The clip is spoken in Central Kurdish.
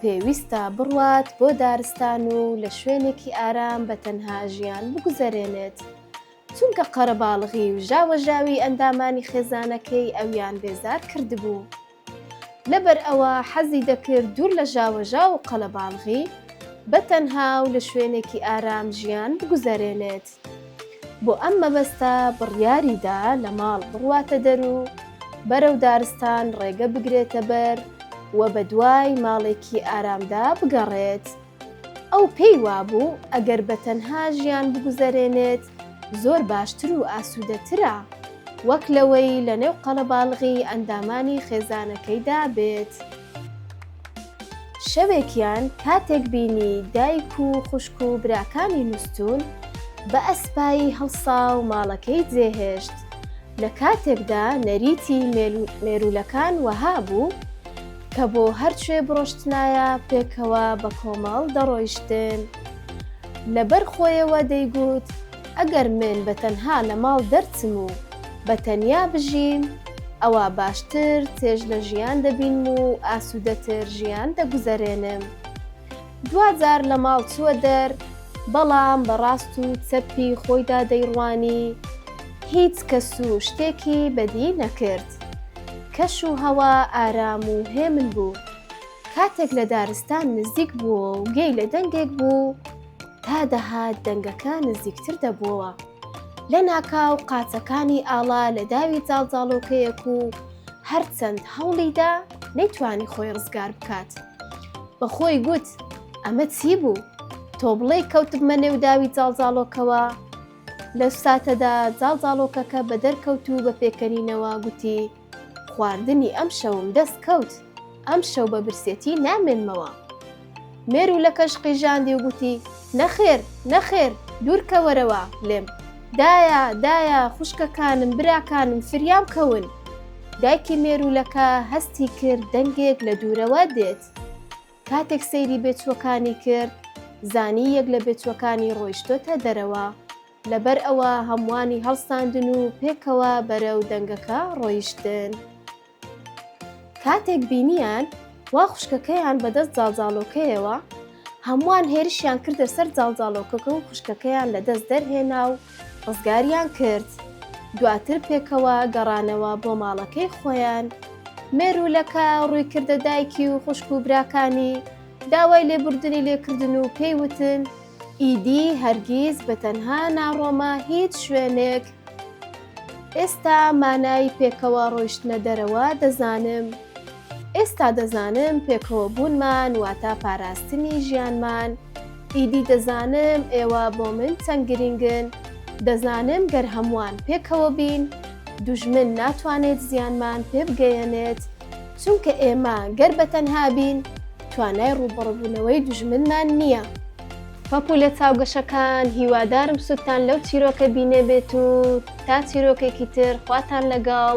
پێویستە بڕوات بۆ دارستان و لە شوێنێکی ئارام بە تەنها ژیان بگوزەرێنێت، چونکە قەرەباڵغی و ژاوەژاوی ئەندامانی خێزانەکەی ئەویان بێزار کردبوو. لەبەر ئەوە حەزی دەکرد دوور لە ژاوەژاو و قەلەباڵغی، بە تەنها و لە شوێنێکی ئارام ژیان بگوزەرێنێت. بۆ ئەم مەبەستە بڕیاری دا لە ماڵ بڕواتە دەر و بەرەو دارستان ڕێگە بگرێتە بەر و بە دوای ماڵێکی ئارامدا بگەڕێت. ئەو پێی وابوو ئەگەر بە تەنها ژیان بگوزەرێنێت زۆر باشتر و ئاسوودەترە وەک لەوەی لەنێو قەڵەباڵغی ئەندامانی خێزانەکەیدا بێت. شەوێکیان کاتێک بینی دایک و خوشک و براکانی نوستون بە ئەسپایی هەڵسا و ماڵەکەی جێهێشت لە کاتێکدا نەریتی مێرولەکان وەها بوو کە بۆ هەرچێ بڕۆشتنایە پێکەوە بە کۆمەڵ دەڕۆیشتن لەبەر خۆیەوە دەیگوت ئەگەر من بە تەنها لە ماڵ دەرچم و بە تەنیا بژیم ئەوا باشتر چێژ لە ژیان دەبینم و ئاسوودەتر ژیان دەگوزەرێنم دواجار لە ماڵ چووە دەر بەڵام بەڕاست و چەپی خۆیدا دەیڕوانی هیچ کەس و شتێکی بەدی نەکرد کەش و هەوا ئارام و هێمن بوو کاتێک لە دارستان نزیک بووە و گەی لە دەنگێک بوو تا دەهات دەنگەکە نزیکتر دەبووە. لەناکاو قاچەکانی ئاڵا لە داوی جاڵجاڵۆکەیەک و هەرچەند هەوڵیدا نەیتوانی خۆی ڕزگار بکات بەخۆی گوت ئەمە چی بوو تۆ بڵێ کەوتبمە نێو داوی جاڵجاڵۆکەوە لە ساتەدا جاڵجاڵۆکەکە بە دەرکەوت و بە پێکەنینەوە گوتی خواردنی ئەمشەوم دەست کەوت، ئەمشەو بە برسێتی نامێنمەوە. مێرو لە کەژ قیژاندی و گوتی، نەخێر، نەخێر، دوورکەوەرەوە لێم. دایە، دایە، خوشکەکانم، براکانم فریام کەون. دایکی مێرولەکە هەستی کرد دەنگێک لە دوورەوە دێت. کاتێک سەیری بێچووەکانی کرد، زانی یەک لە بێچووەکانی ڕۆیشتۆتە دەرەوە. لەبەر ئەوە هەمووانی هەڵساندن و پێکەوە بەرەو دەنگەکە ڕۆیشتن. کاتێک بینیان وا خوشکەکەیان بەدەست زاڵزاڵۆکەیەوە، هەمووان هێرشیان کردە سەر زاڵزاڵۆکەکە و خوشکەکەیان لە دەست دەرهێنا و ڕزگاریان کرد. دواتر پێکەوە گەڕانەوە بۆ ماڵەکەی خۆیان. مێروولەکە ڕووی کردە دایکی و خوشک و براکانی، داوای لێبوردنی لێکردن و پێی وتن، ئیدی هەرگیز بە تەنها ناڕۆمە هیچ شوێنێک. ئێستا مانای پێکەوە ڕۆیشتنە دەرەوە دەزانم. ئێستا دەزانم پێکەوە بوونمان واتە پاراستنی ژیانمان. ئیدی دەزانم ئێوە بۆ من چەند گرینگن. دەزانم گەر هەمووان پێکەوە بین، دوژمن ناتوانێت زیانمان پێ بگەیەنێت، چونکە ئێمە گەر بە تەنها بین، توانای ڕووبەڕبوونەوەی دوژمنمان نییە. پەپولە چاوگەشەکان هیوادارم سودتان لەو چیرۆکە بینێبێت و تا چیرۆکێکی تر خواتان لەگەڵ.